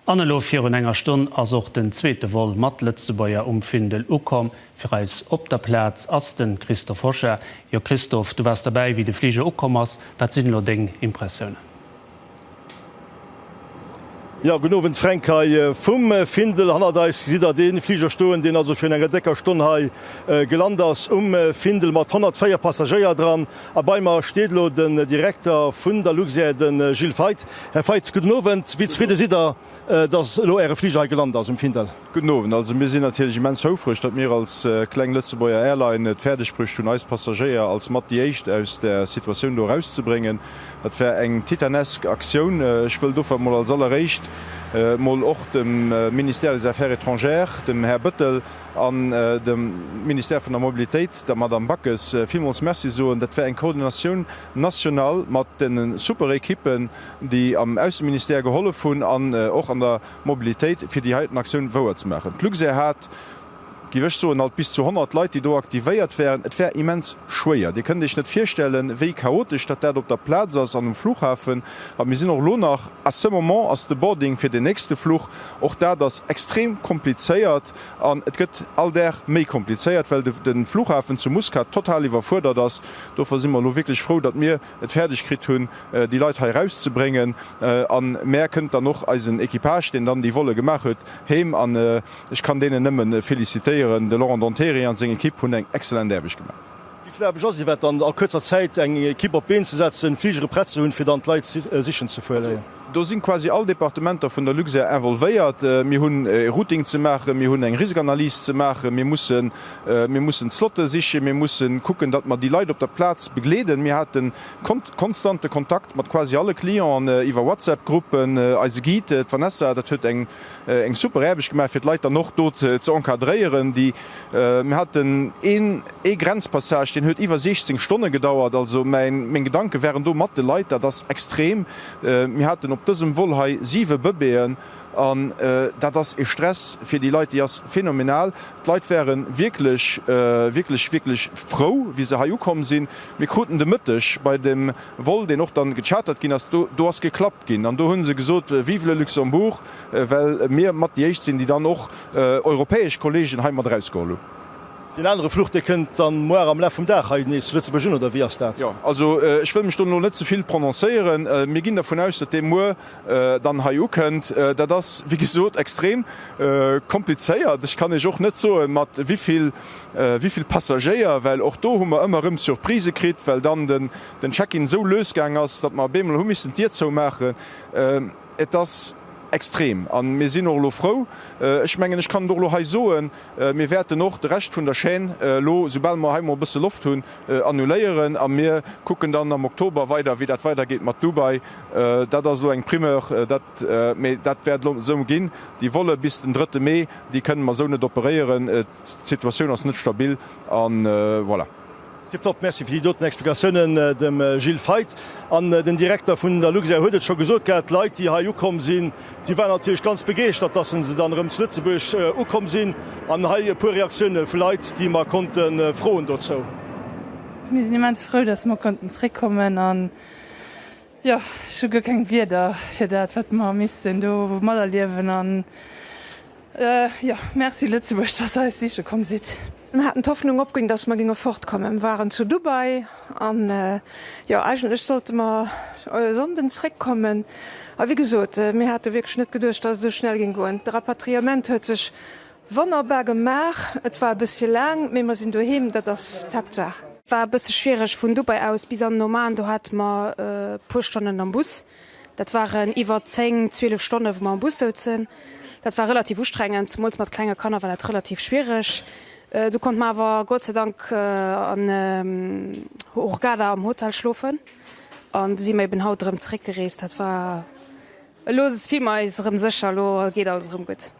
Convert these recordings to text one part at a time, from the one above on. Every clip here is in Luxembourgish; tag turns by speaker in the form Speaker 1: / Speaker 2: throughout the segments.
Speaker 1: An elo virun enger Stonn ass och den zweete Vol mat Lëtzebuerger um Findel ukomm. Fir eis op der Plaz ass den Christophe Hochet. Jo Christophe, du waars derbäi wéi de Fliger ukomm ass. Wat sinn elo deng Impressiounen?
Speaker 2: Jo, gudden Owend Fränk, hei vum Findel hannert eis gesitt der dee Fliger stoen, deen also virun enger décker Stonn hei gelant ass um Findel mat 104 Passagéier dran. A bei mer steet elo den Direkter vun der Luxair, de Gilles Feith. Här Feith, gudden Owend. Wéi zefridde sidd Der, datt elo Äre Fliger hei gelant ass um Findel? Gudden Owend. Also mir sinn
Speaker 3: natierlech immens houfreg, datt mir als kleng Lëtzebuerger Airline et fäerdeg bruecht hunn, eis Passagéier als mat déi éischt aus der Situatioun do erauszebréngen. Dat war eng titanesk Aktioun. Ech wëll dofir mol als alleréischt mol och dem Ministère des Affaires étrangères, dem Här Bëttel, an dem Ministère vun der Mobilitéit, der Madame Backes villmools Merci soen. Dat war eng Coordination nationale mat deene super Equippen, déi am Ausseministère gehollef hunn an och an der Mobilitéit, fir déi heiten Aktioun wouer ze maachen. D'Luxair hat, géif ech soen, alt bis zu 100 Leit, déi do aktivéiert waren. Et war immens schwéier. Dir kënnt Iech net virstellen, wéi chaotesch datt dat op der Plaz ass an um Fluchhafen. A mir sinn och elo nach, à ce moment ass de Boarding fir den nächste Fluch. Och dat ass extrem komplizéiert. An et gëtt all Dag méi komplizéiert, well de Flughafen zu Muscat total iwwerfuerdert ass. Dofir si mer elo wierklech frou, datt mir et fäerdeg kritt hunn, déi Leit hei erauszebréngen. A mär kënnt dann och eisen Equipage, deen dann déi Volle gemaach huet, heem. An ech kann deenen nëmme felicitéieren. De Laurent Dontéry a seng Ekipp hunn eng excellent Aarbecht gemaach. Wéi fleibeg ass Iwwert
Speaker 2: dann a kuerzer Zäit eng Ekipp op d'Been ze setzen, Fligere prett ze hunn, fir dann d'Leit sichen ze fueléien? Do sinn quasi all
Speaker 3: Departementer vun der Luxair involvéiert. Mir hunn e Routing ze maachen, mir hunn eng Risikanalyse ze maachen, mir mussen mir mussen d'Slotte sichen, mir mussen kucken, datt mer déi Leit op der Plaz begleeden. Mir haten kont konstante Kontakt mat quasi alle Clienten iwwer WhatsApp-Gruppen. Eise Guide, d'Vanessa, dat huet eng eng super Aarbecht gemaach fir d'Leit dann och do ze encadréieren. Déi mir haten een ee Grenzpassage deen huet iwwer 16 Stonne gedauert. Also mäin meng Gedanke waren do mat de Leit. Dat ass extrem. Mir haten op dësem Vol hei 7 Bëbeeën an dat ass ee Stress fir déi Leit déi ass phenomenal. D'Leit ware wierklech wierklech wierklech frou wéi se hei ukomm sinn. Mir kruten de Mëtteg bei dem Vol deen och dann gechartert ginn ass do do ass geklappt. Ginn. An do hu se gesot, Vive le Luxembourg, well mir mat déi éischt sinn, déi dann och europäesch Kolleegen hei mat erausgeholl hunn. Deen anere
Speaker 2: Fluch, dee kënnt dann moar am Laf vum Dag hei nees zu Lëtzebuerg un, oder wéi ass dat? Jo, also ech wëll
Speaker 3: mech do elo net ze vill prononcéieren. Mir ginn dervun aus, datt dee muer dann hei ukënnt. Dat ass, wéi gesot, extrem komplizéiert. Ech kann Iech och net soen, mat wéi vill Passagéier, well och do hu mer ëmmer erëm Surprisë kritt, well dann de den Check-in esou lues gaang ass, datt mer beemol hu missen d'Dier zoumaachen. Et ass extrem an mir sinn och elo frou. Ech mengen, ech kann et och elo hei soen, Mir wäerten och de Rescht vun der Chaîne elo, soubal mer hei mol e bësse Loft hunn, annuléieren a mir kucken dann am Oktober weider, wéi dat weidergeet mat Dubai. Dat ass elo eng Primeur, dat, mee dat wäert elo esou ginn. Déi Volle bis den drëtte Mee, déi kënnen mer esou net operéieren. D'Situatioun ass net stabil a voilà. Tiptop, Merci
Speaker 2: fir déi doten Explikatiounen dem Gilles Feith. An den Direkter vun der Luxair huet et scho gesot gehat, d'Leit déi hei ukomm sinn, déi waren natierlech ganz begeeschtert, dass se dann erëm zu Lëtzebuerg ukomm sinn. An hei e puer Reaktioune vu Leit, déi mer konnte froen dozou. Mir sinn
Speaker 4: immens frou, dass mer konnten zréckkommen an Jo, ech hu guer keng Wierder fir dat, wat mer missten do materliewen an jo, Merci Lëtzebuerg, dass Der eis siche komm sidd. Mer haten d'Hoffnung
Speaker 5: opginn, dass mer géinge fortkommen. Mer waren zu Dubai an jo, eigentlech sollte mer e Sonnden zréckkommen. A wéi gesot, mir hate wierklech net geduecht, dass et esou schnell géing goen. De Rapatriement huet sech Wonnerbar gemaach! Et war e bëssche laang, mee mer sinn doheem, dat ass d'Haaptsaach. War e bësse schwiereg
Speaker 6: vun Dubai aus bis an Oman, do hate mer e puer Stonnen am Bus. Dat waren iwwer 10, 12 Stonne wou mer am Bus souzen. Dat war relativ ustrengend, zumools mat klenge Kanner war dat relativ schwiereg. Du konnte mer awer Gott sei Dank an Hurghada am Hotel schlofen an du si mer eben haut erëm zeréck gereest. Dat war elo, si mer eis erëm sécher, elo geet alles erëm gutt.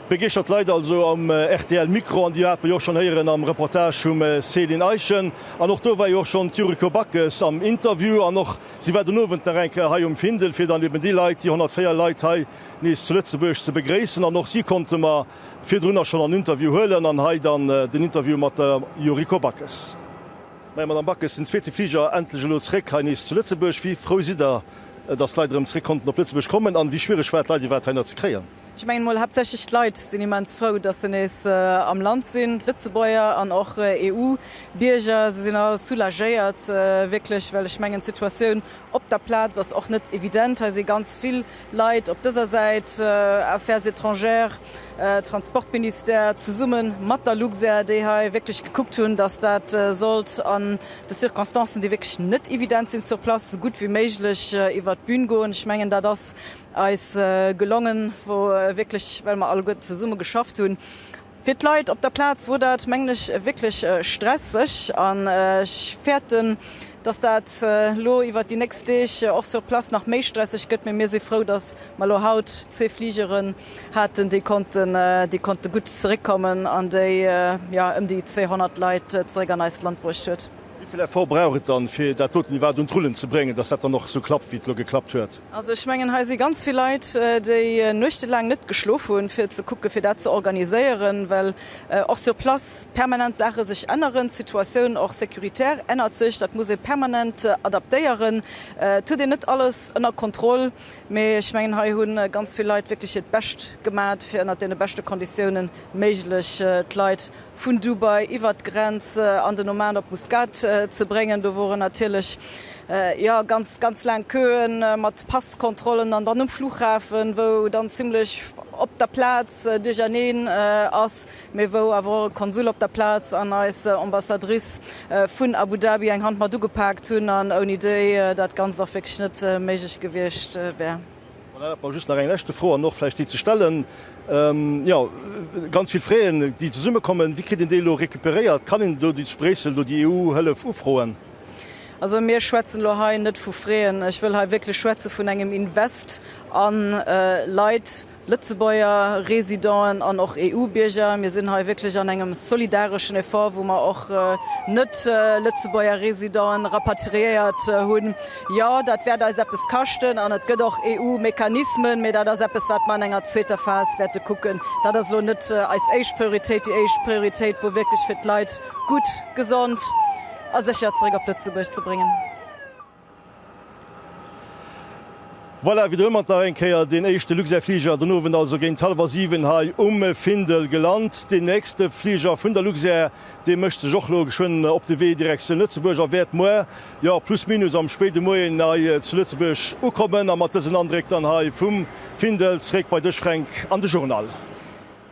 Speaker 2: Begeeschtert Leit also am rtl Mikro, an déi hat mer jo och schonn héieren am Reportage vum Céline Eischen. An och do war jo och schonn d'Yuriko Backes am Interview an och si war den Owend nach eng Kéier hei um Findel, fir dann eben déi Leit, déi 104 Leit hei nees zu Lëtzebuerg ze begréissen. An och si konnte mer virdrunner schonn an Interview huelen an hei dann den Interview mat der Yuriko Backes. Majo Madame Backes, den zweete Fliger endlech elo zréck hei nees zu Lëtzebuerg. Wéi frou sidd der, datt d'Leit erëm zréck konnten op Lëtzebuerg kommen an wéi schwiereg war et d'Leit iwwerhaapt hei-hiner ze kréien? Ech mengen emol haaptsächlech
Speaker 7: d'Leit sinn immens frou, datt se nees am Land sinn, d'Lëtzebuerger an och EU-Bierger. Se sinn all soulagéiert wierklech, well ech mengen d'Situatioun op der Plaz ass och net evident. Hei si ganz vill Leit op dëser Säit, Affaires étrangères, Transportministère, zesumme mat der Luxair, déi hei wierklech gekuckt hunn, datt dat sollt an de Circonstancen, déi wierklech net evident sinn sur place, esou gutt wéi méiglech iwwert d'Bün goen. Ech mengen, dat ass eis gelongen, wou wierklech, well mer alleguerten zesumme geschafft hunn. Fir d'Leit op der Plaz wor dat mengen ech wierklech stresseg an ech fäerten dass dat lo iwwert déi nächst Deeg och sur place nach méi stresseg gëtt. Mee mir si frou dass mer lo haut zwee Fligeren haten déi konnten déi konnte gutt zeréckkommen an déi jo ëm déi 200 Leit zeréck an eist Land bruecht huet. Wéi vill Effort brauch et
Speaker 2: dann fir dat doten iwwerhaapt un d'Rullen ze bréngen dass dat dann och sou klappt wéi et lo geklappt huet? Also ech mengen, hei si
Speaker 7: ganz vill Leit, déi nuechtelaang net geschlof hunn, fir ze kucken, fir dat ze organiséieren, well och sur place permanent Saache sech änneren. D'Situatioun och sécuritaire ännert sech. Dat muss ee permanent adaptéieren. Et huet een net alles ënner Kontroll, mee ech mengen, hei hu ganz vill Leit wierklech hiert Bescht gemat, fir ënnert deene beschte Konditiounen méiglech d'Leit vun Dubai iwwert d'Grenz an den Oman op Muscat ze bréngen. Do woren natierlech jo ganz ganz laang Queue mat Passkontrollen an dann um Flughafen, wou dann zimlech op der Plaz Duercherneen ass, mee wou awer och e Konsul op der Plaz an eis Ambassadrice vun Abu Dhabi eng Hand mat ugepaakt hunn an ouni déi dat Ganzt och wierklech net méiglech gewiescht wär. An erlaabt mer just nach eng
Speaker 2: leschte Fro an och vläicht déi ze stellen, jo, ganz vill Fräen, déi zesummekommen, wéi kritt een déi elo recuperéiert? Kann een do zu Bréissel do déi EU-Hëllef ufroen? Also
Speaker 7: mir schwätzen elo hei net vu Fräen, ech wëll hei wierklech schwätze vun engem Invest a Leit, Lëtzebuerger Residenten an och EU-Bierger. Mir sinn hei wierklech an engem solidareschen Effort, wou mer och net-Lëtzebuerger Residenten rapatriéiert hunn. Jo, dat wäert eis eppes kaschten an et gëtt och EU-Mechanismen, mee dat ass eppes, wat mer an enger zweeter Phas wäerte kucken. Dat ass elo net eis éischt Prioritéit. Déi éischt Prioritéit wor wierklech, fir d'Leit gutt, gesond a sécher zeréck op Lëtzebuerg ze bréngen.
Speaker 2: Voilà, widderëmmer nach eng Kéier deen éischte Luxair-Fliger den Owend also géint hallwer siwen hei um Findel gelant. Deen nächste Fliger vun der Luxair, dee mécht sech och elo geschwënn op de Wee Direktioun Lëtzebuerg a wäert muer Jo, plus minus am spéide Moien hei zu Lëtzebuerg ukommen a mat dësen Andréck dann hei vum Findel zréck bei dech Fränk an de Journal.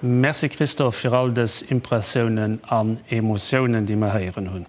Speaker 1: Merci Christophe fir all dës Impressiounen an Emotiounen déi mer héieren hunn.